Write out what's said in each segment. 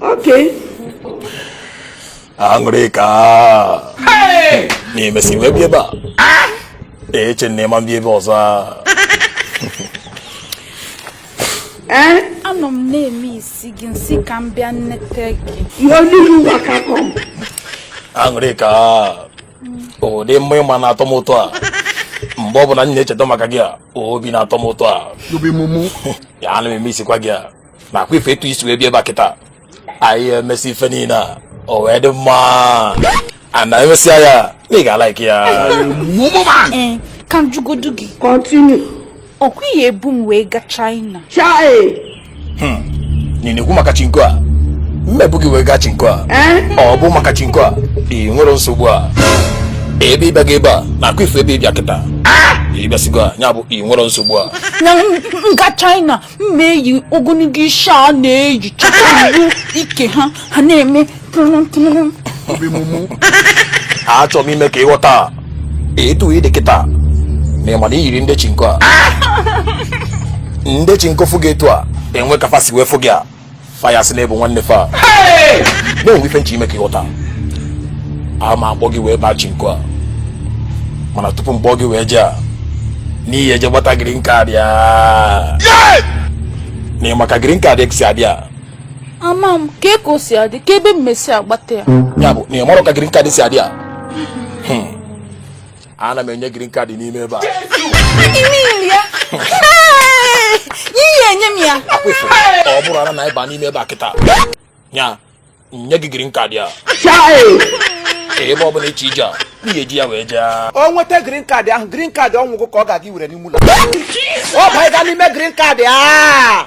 Okay. Aṅụrịka na ị mesi wee bịa ebe a ah! eche m na ị ma bịa ebe ọzọ eh? anọ m na-emisi gị m sị ka m bịa nete gị Aṅụrịka ọ dị mma ịma na-atọ m ụtọ a mgbe ọ bụla m na-echeta maka gị a obi na-atọ m ụtọ a ya ana m emisikwa gị a na ọkwa ị fụ etu i si wee bịa ebe a kịta anyị emesi ife niile a o wee dị mma ana emesịa ya na ị ga-alaiki ya ee ka m jụgodu gị Continue. ọkwa ị ya-ebu m wee gaa China Charlie. ị na-ekwu maka chinko a m ma ebu gị wee gaa chinko a Eh? ọ bụ maka chinko a ị nwere nsogbu a ebe ịbịa gị ebe a na ọkwa ị fụ ebe ịbịa kịta ịbịasịgo a ya bụ ị nwere nsogbu a na m m gaa China m na-eyi ogologo isi a na-eyi chọta iwu ike ha ha na-eme tụrụm tụrụm you be mumu achọrọ m ime ka ịghọta etu ị dị kịta na ịma na iyiri ndị chinko a ndị chinko fụ gị etu a e nwe ka fa si wee fụ gị a fa ya-asị na ị bụ nwanne fa na o nwe ife m chọ ime ka ịghọta a ma akpọ gị wee baa chinko a mana tupu m kpọọ gị wee jee a na ị ya-eje gbata green card ya na ị ma ka green card si adị a ama m kee ka o si adị kee ebe m ya-esi agbata ya ya bụ na ị marọ ka green card si adị a Hmm. a na-enye green card n'ime ebe a ọ bụrụ na ịba n'ime ebe a kịta ya nye gị green card ya ebe ọ bụla ịchọ ije a ị ga-eji ya wee jee o nweta green card ahụ green card ọnwụgwụ ka ọ ga-aga iwere n'ime ụlọ ọ banye gaa n'ime green card a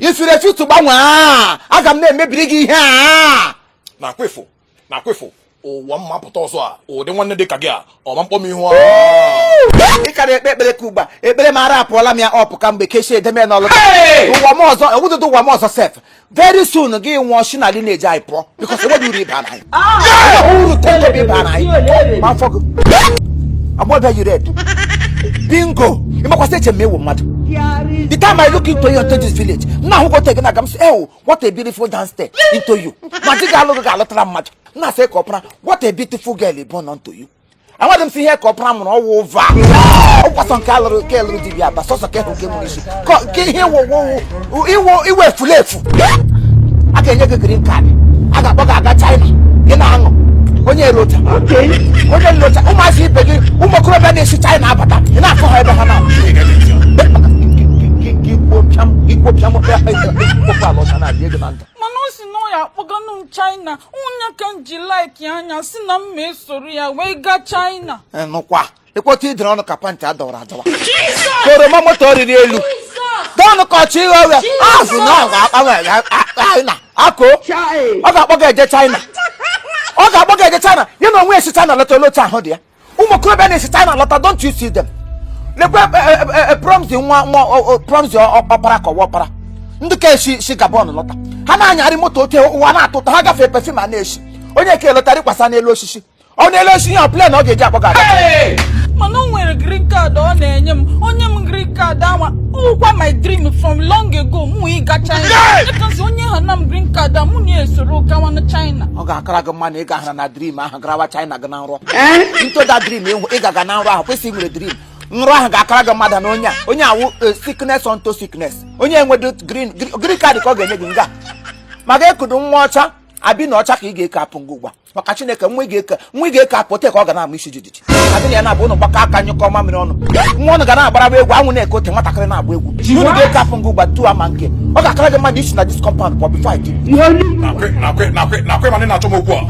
if you refuse to gbanwee a aga m na-emebiri gị ihe a na ọkwa ị fụ na ọkwa ị fụ ụwa m ma-apụta ọzọ a ụdị nwanne dị ka gị a ọ ma akpọ m ihu a ị ka na-ekpe ekpere ka ugbu a ekpere m ara apụọla m ya ọpụ ka mgbe kechie edeme n'ọlụ ụwa m ọzọ awụghịdị ụwa m ọzọ sef very soon gị nwụọ shi na lineage anyị pụọ because enweghị uru ị baara anyị. uru ten kobo ị baara anyị ma afụ gị. agbọ bịa you red bingo ị makwa sị eche m ị wụ mmadụ. the time i look into you into this village nna ahụ gote gị na aga m sị ewu what a beautiful damsel into you ma di ga-alụ gị ga-alụtara mmadụ nna sị ka ọ pụra what a beautiful girl ị bụ nọ into you. amadị m sị ihe ka ọpara mụrụ ọwụ ụva ọkwasọ nke alụrụ nke lụrụ dibịa aba sọsọ ka ịhụ nke mụrụ isi ka nke ihe iwe iwe efulefu a ga-enye gị green card a ga-akpọ gị aga China gị na-aṅụ onye lọta onye lọta ụmụazị ibe gị ụmụ okorobịa na-esi China abata ị na-afụ ha ebe ha na ikpopịa mụkpịa ikpopụ ala ọcha na-abịa ego na ndụ mana ọ sị na ọ ya akpọganụ m China onye ka m ji like ya sị na m ma-esoro ya wee gaa China nụkwa ị kpọta i dere ọnụ ka pant a dọwara adọwa oroma moto riri elu dọnụ ka ọchị ịghọ ọrịa azụ na ọ ga-akpọ m eje China ako ọ ga-akpọ gị eje China ọ ga-akpọ gị eje China ya na onwe esi China lọta olee otu ahụ dị ya ụmụ okorobịa na-esi China lọta don't you see them lekwe Promise nwa nwa Promise ọkpara ka ọwa ọkpara ndị ke si si Gabon lọta ha na-anyarị moto oke ụwa na-atọ ụtọ ha gafee perfume a na-esi onye ke lọtara ịkwasa n'elu osisi ọ na-ele osisi ihe plane ọ ga-eji akpọ gị aga mana o nwere green card ọ na-enye m o nye m green card ọ wụkwa my dream from long ago mụ ịga China because o nyehana m green card a mụ na-esoro gawa na China ọ ga-akara gị mma na ị ga-ahara na dream ahụ garawa China gị na nrọ into that dream ịhụ ị ga-aga na nrọ ahụ kwesịrị nwere dream nrọ ahụ ga-akara gị mma na onye a onye awụ eh, sickness unto sickness onye enwedị green gr- green card ka ọ ga-enye gị nga ma ga-ekudo nwa ọcha abi na ọcha ka ị ga-eke apụ ngị ugbua maka Chineke nwa ị ga-eke nwa ị ga-eke apụ te ka ọ ga na-ama isi jijiji adị na ya na-abụ ụnụ gbakọ aka nyụkọ mamịrị ọnụ nwa ụnụ ga na-agbaraba egwu anwụ na-eke ote nwatakịrị na-agba egwu unu ga-eke apụ ngị ugbua tu ama nke ọ ga-akara gị mma isi na this compound pụọ before I give you. nakwe nakwe nakwe nakwe mana ị na-achọ m okwu a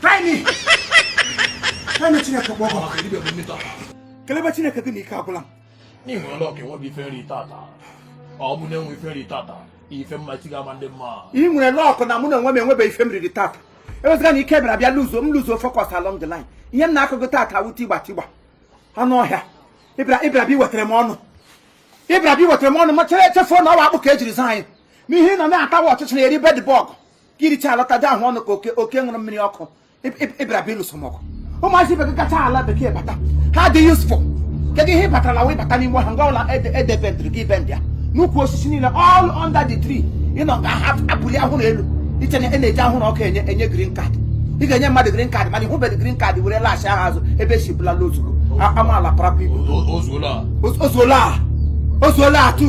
Try me. Try me Chineke gbọgọ. Ọ kiri bebe mmita. Kelebe Chineke gị na ike agwụla m. N'ihi ọlọ ka enweghị ife m riri tata. Ọ bụ na enwe ife m riri tata. Ife mma chi ga-ama ndị mma. I nwere luck na mụ na onwe m enwebeghị ife m riri tata. Ewezụga na ike bịara bịa lose m lose focus along the line. Ihe m na-akụ gị tata awụ tigba tigba. Anụ ọhịa. Ị bịara ị bịara bịa iwetara m ọnụ. Ị bịara bịa iwetara m ọnụ ma chere echefuo na ọ wụ akpụ ka e jiri zụọ anyị. Ihe ị nọ na-atawa ọchịcha na-eri bedbug. ka i richa alọta dị ahụ ọnụ ka oke oke ṅụrụ mmiri ọkụ ị bịara bịa ịlụso m ọgụ ụmụazị ibe gị gacha ala bekee bata ha dị useful kedu ihe ị batara na wee bata n'ime ha nga ụla edebendịrị gị ibe ndị a n'ukwu osisi niile all under the tree ị nọ nga ha abụli ahụrụ elu i che na a na-eji ahụrụ ọkụ enye enye green card ị ga-enye mmadụ green card mana ị hụbeghị green card were laghachi aha azụ ebe i si bịa n'ozugbo amaala parapụ ibu o zuola a o zuola a tu